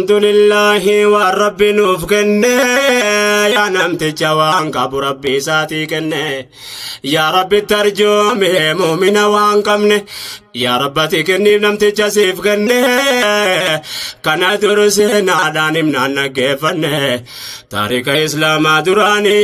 Alhamdulillahi waan rabbi nuuf kenne yaa namticha waan qabu rabbi isaatii kenne yaa rabbi tarjoome muumina waan qabne yaa rabbati kenniif namticha siif kenne kana dur seenaadhaan himnaan dhaggeeffanne taarika islaamaa duraanii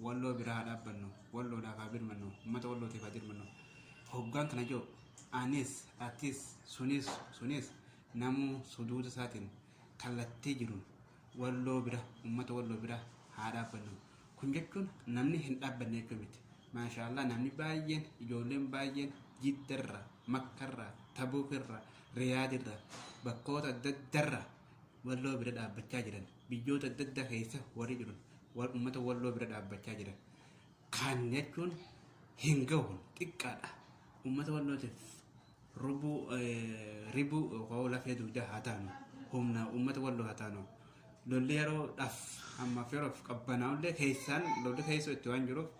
Walloo bira haa dhaabbannu, Walloodhaaf haa birmannu, uummata Wallootiif haa dirmannu. Hoggaan kana jedhu anis, atis, sunis, sunis namuu suduuda isaatiin kallattii jiruun Walloo bira, uummata Walloo bira haa dhaabbannu. Kun jechuun namni hin dhaabbanne jechuu miti. Maashaallah namni baay'een, ijoolleen baay'een Jiddarra, Makkarra, Tabuukirra, Riyaadirra, bakkoota adda addarra Walloo bira dhaabbachaa jiran. biyyoota adda addaa keessa warri jiru warri uummata walloo bira dhaabbachaa jiran kan jechuun hin gahu xiqqaadha. Uummata wallootiif rubuu eh, ribuu yookaan lafee dugdaa haa taanu humna uummata walloo haa taanu lolli yeroodhaaf ammaaf yeroof qabbanaa'ullee keessaan lolli keessoo itti waan jiruuf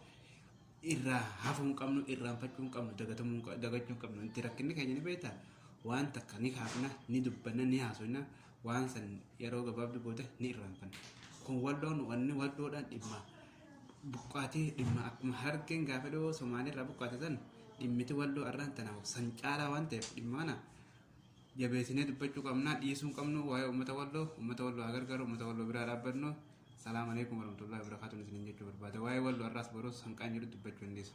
irraa hafuu hin qabnu irraanfachuu hin qabnu dagatamuu hin qa- dagachuu hin qabnu nuti rakkinni keenya ni beektaa waan takka ni kaafna ni dubbanna ni haasofna waan san yeroo gabaabduu booda ni irraanfanna. Kun walloon wanni walloodhaan dhimma buqqaatii dhimma akkuma harargeen gaafa dhiyoo Somaaliirraa buqqaate san dhimmiti walloo arraan tanaaf san caalaa waan ta'eef dhimma kana jabeessinee dubbachuu qabnaa dhiisuu hin qabnu waa'ee uummata walloo uummata walloo haa gargaaru uummata walloo biraa dhaabbannu salaam alaikum warahmatullahi wabarakatuh isiniin jechuu barbaada waa'ee walloo arraas boruus hanqaan jiru dubbachuu hin dhiisu.